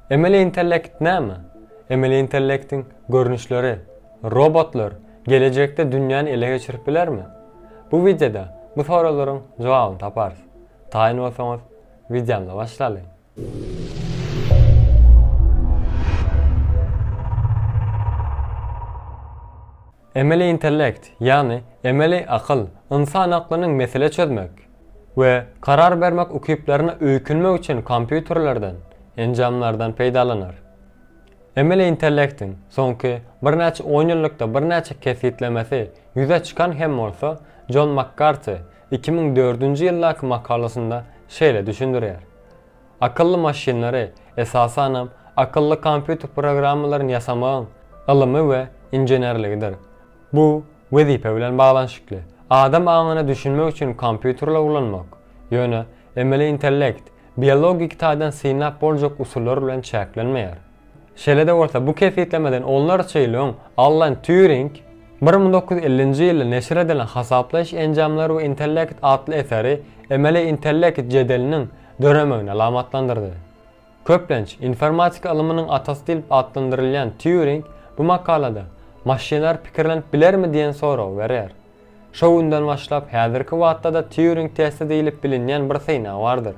Emeli intellekt näme? Emeli intellektiň görnüşleri, robotlar gelejekde dünýäni ele geçirip bilermi? Bu wideoda bu soraglaryň jogabyny taparys. Taýyn bolsaňyz, wideomyzy başlalyň. Emeli intellekt, ýagny emeli akyl, ynsan aklynyň mesele çözmek we karar bermek ukyplaryna öýkünmek üçin kompýuterlerden, enjamlardan peýdalanar. Emeli intellektiň soňky birnäçe onýyllykda birnäçe kesgitlemesi ýüze çykan hem bolsa, Jon Makkarti iki müň dördünji ýyldaky makalasynda şeýle düşündirýär, Akylly maşynlary, esasanam, akylly kompýuter programmalaryny ýasamagyň ylymy we inženerligidir. Bu, wezipe bilen baglanyşykly. Adam aňyna düşünmek üçin kompýuterleri ulanmak, ýöne, emeli intellekt, biologik taýdan synlap boljak usullar bilen çäklenmeýär. Şeýle-de bolsa, bu kesgitlemeden onlarça ýyl öň Allan Týuring bir müň dokuz ýüz ellinji ýylda neşir edilen Hasaplaýyş enjamlary we intellekt atly eseri emeli intellekt jedeliniň döremegini alamatlandyrdy. Köplenç, informatika ylmynyň atasy diýlip atlandyrylýan Týuring bu makalada Maşynlar pikirlenip bilermi diýen soragy berýär. Şo günden başlap, häzirki wagtda-da Týuring testi diýlip bilinýän bir synag bardyr.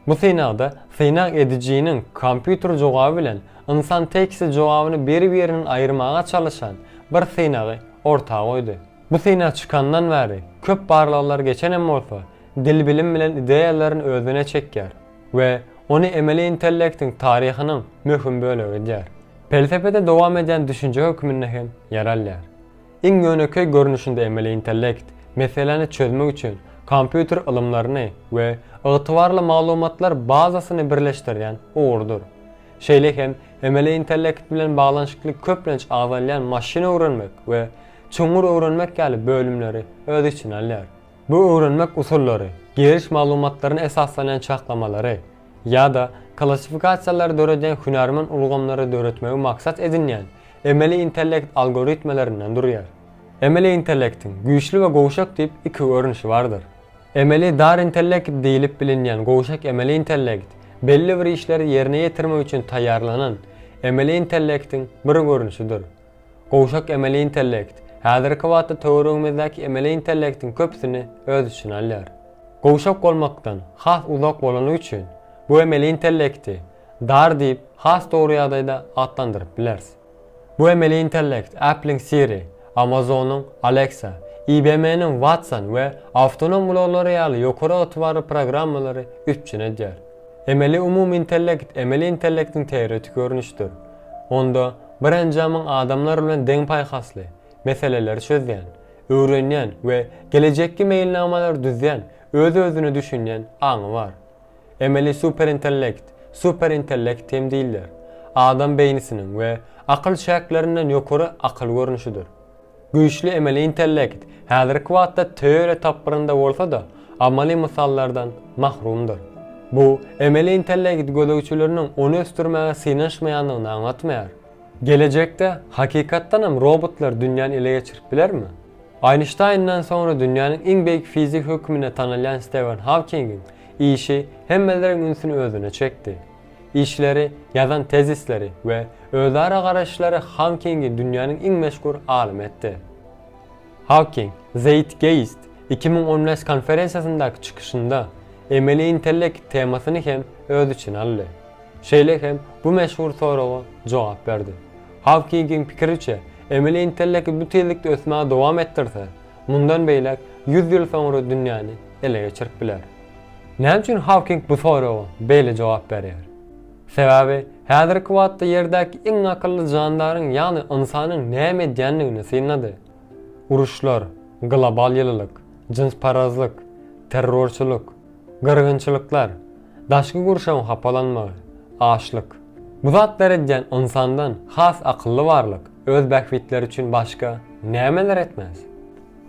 Bu synagda synag edijiniň kompýuter jogaby bilen ynsan teksti jogabyny bir-birinden aýyrmaga çalyşan bir synagy orta goýdy. Bu synag çykandan bäri köp barlaglar geçenem bolsa, dil bilim bilen ideýalaryny özüne çekýär we ony emeli intellektiň taryhynyň möhüm bölegi edýär. Pelsepede dowam edýän düşünje hökmünde hem ýer alýar. Iň ýönekeý görnüşinde emeli intellekt, meseläni çözmek üçin kompýuter ylymlaryny we ygtybarly maglumatlar bazasyny birleşdirýän ugurdyr. Şeýle hem emeli intellekt bilen baglanyşykly köplenç agzalýan maşyn öwrenmek we çuňňur öwrenmek ýaly bölümleri öz içine alýar. Bu öwrenmek usullary giriş maglumatlaryna esaslanýan çaklamalary, ýa-da klassifikasiýalary döredýän hünärmen ulgamlary döretmegi maksat edinýän emeli intellekt algoritmelerinden durýar. Emeli intellektiň güýçli we gowşak diýip iki görnüşi bardyr. Emeli dar intellekt diýlip bilinýän gowşak emeli intellekt belli bir işleri ýerine ýetirmek üçin taýýarlanan emeli intellektiň bir görnüşidir. Gowşak emeli intellekt, häzirki wagtda töweregimizdäki emeli intellektiň köpüsini öz içine alýar. Gowşak bolmakdan has uzak bolany üçin, bu emeli intellekti dar diýip has dogry ýagdaýda atlandyryp bileris. Bu emeli intellekt Apple-iň Siri, Amazon-yň Alexa, IBM-niň Watson we awtonom ulaglary ýaly ýokary ygtybarly programmalary üpjün edýär. Emeli umumy intellekt emeli intellektiň teoretik görnüşidir. Onda Bir enjamyň adamlar bilen deň paýhasly, meseleleri çözýän, öwrenýän we gelejekki meýilnamalary düzýän, öz-özüne düşünýän aňy bar. Emeli superintellekt, superintellekt hem diýilýär, adam beýnisiniň we akyl çäklerinden ýokary akyl görnüşidir. Güýçli emeli intellekt häzirki wagtda töle tapgyrynda bolsa-da, amaly mysallardan mahrumdyr. Bu, emeli intellekt gözegçileriniň ony ösdürmäge synanyşmaýandygyny aňlatmaýar. Gelejekde, hakykatdanam, robotlar dünýäni ele geçirip bilermi? Eýnşteýnden soňra dünýäniň iň beýik fizigi hökmünde tanalýan Stewen Hawkingiň işi hemmeleriň ünsüni özüne çekdi. Işleri, ýazan tezisleri we özara garaýyşlary Hawkingi dünýäniň iň meşhur alymy etdi. Hawking Zeitgeist iki müň on bäş konferensiýasyndaky çykyşynda emeli intellekt temasyny hem öz içine aldy. Şeýle hem bu meşhur soraga jogap berdi. Hawkingiň pikiriçe, emeli intellekt bu tizlikde ösmäge dowam etdirse, mundan beýläk ýüz ýyl soňra dünýäni ele geçirip biler. Näme üçin Hawking bu soraga beýle jogap berýär? Sebäbi häzirki wagtda Ýerdäki iň akylly jandaryň ýagny ynsanyň näme edýändigini synlady. Uruşlar, global ýylylyk, jynsparazlyk, terrorçylyk, gyrgynçylyklar, daşky gurşawyň hapalanmagy, açlyk. Bu zatlar edýän ynsandan has akylly barlyk öz bähbitleri üçin başga nämeler etmez?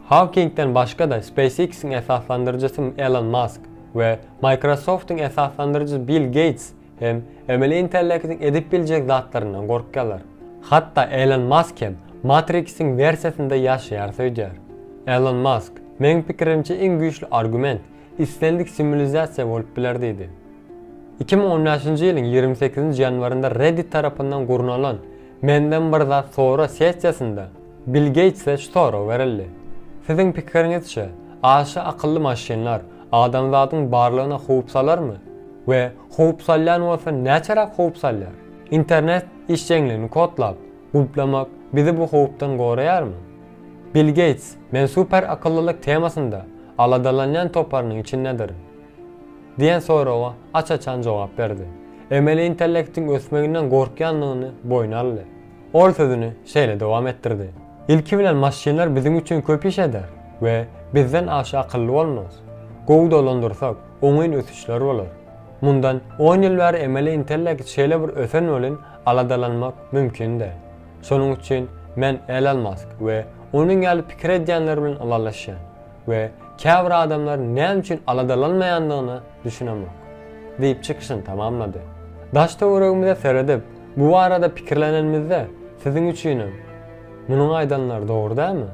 Hawkingden başga-da SpaceX-iň esaslandyryjysy Elon Mask we Microsoft-yň esaslandyryjysy Bill Geýts hem emeli intellektiň edip biljek zatlaryndan gorkýarlar. Hatda Elon Mask hem Matrix-iň wersiýasynda ýaşaýarys öýdýär. Elon Mask, Meň pikirimçe iň güýçli argument, islendik simulizasiýa bolup biler diýdi. Iki müň on bäşinji ýylyň ýigrimi sekizinji ýanwarynda Reddit tarapyndan gurnalan Menden bir zat sora sessiýasynda, Bill Geýtse şu sorag berildi, Siziň pikiriňizçe, aşa akylly maşynlar adamzadyň barlygyna howp salarmy we howp salýan bolsa näçeräk howp salýar? Internet işjeňligini kodlap, gulplamak bizi bu howpdan goraýarmy? Bill Geýts Men super akyllylyk temasynda aladalanýan toparynyň içindedirin diýen soraga aç-açan jogap berdi. Emeli intellektiň ösmeginden gorkýandygyny boýun aldy. Ol sözüni şeýle dowam etdirdi. Ilki bilen maşynlar biziň üçin köp iş eder we bizden aşa akylly bolmaz. Gowy dolandyrsak, oňyn ösüşler bolar. Mundan on ýyl bäri emeli intellekt şeýle bir ösen welin aladalanmak mümkin däl. Şonuň üçin men Elon Mask we onuň ýaly pikir edýänler bilen ylalaşýan. we käbir adamlaryň näme üçin aladalanmaýandygyna düşünemok, diýip çykyşyny tamamlady. Daş-töweregimize seredip, bu barada pikirlenenimizde, siziň üçinem munuň aýdanlary dogry dälmi?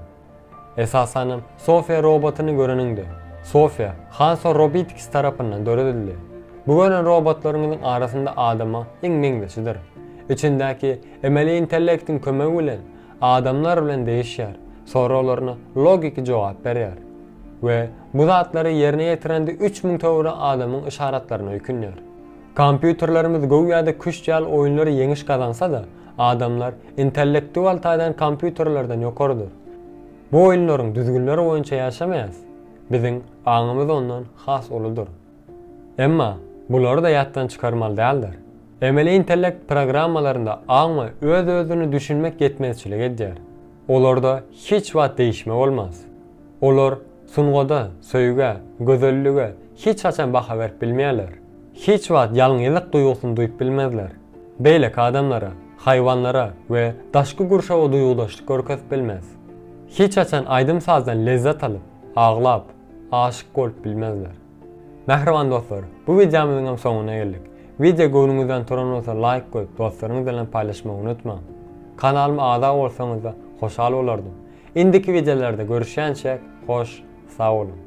Esasanam Sofiýa robotyny göreniňde, Sofiýa Hanso Robitikis tarapyndan döredildi. Bu gören robotlaryňyzyň arasynda adama iň meňzeşidir. Içindäki emeli intellektiň kömegi bilen Adamlar bilen degişýär, soraglaryna logiki jogap berýär we bu zatlary ýerine ýetirende üç müň töwere adamyň yşaratlaryna öýkünýär. Kompýuterlerimiz göwýada küşt ýaly oýunlar ýeňiş gazansa-da, adamlar intellektual taýdan kompýuterlerden ýokarydyr. Bu oýunlaryň düzgünleri boýunça ýaşamaýas, biziň aňymyz ondan has uludyr. Emma, bulary-da ýatdan çykarmaly däldir. Emeli intellekt programmalarynda aňa öz-özüni düşünmek ýetmezçilik edýär. Olarda hiç wagt degişme bolmaz. Olar sungada, söýgä, gözellige hiç haçan baha berip bilmeýärler. Hiç wagt ýalňyzlyk duýgusyny duýup bilmezler. Beýleki adamlara, haýwanlara we daşky gurşawa duýgudaşlyk görkezip bilmez. Hiç haçan aýdym-sazdan lezzet alyp, aglap, Aşyk bolup bilmezler. Mähriban dostlar, bu wideomyzyň hem soňuna geldik. Wideo göwnüňizden turan bolsa laýk goýup dostlaryňyz bilen paýlaşmagy unutmaň. Kanalyma agza bolsaňyzda hoşal bolardym. Indiki wideolarda görüşýänçäk, hoş, sag boluň.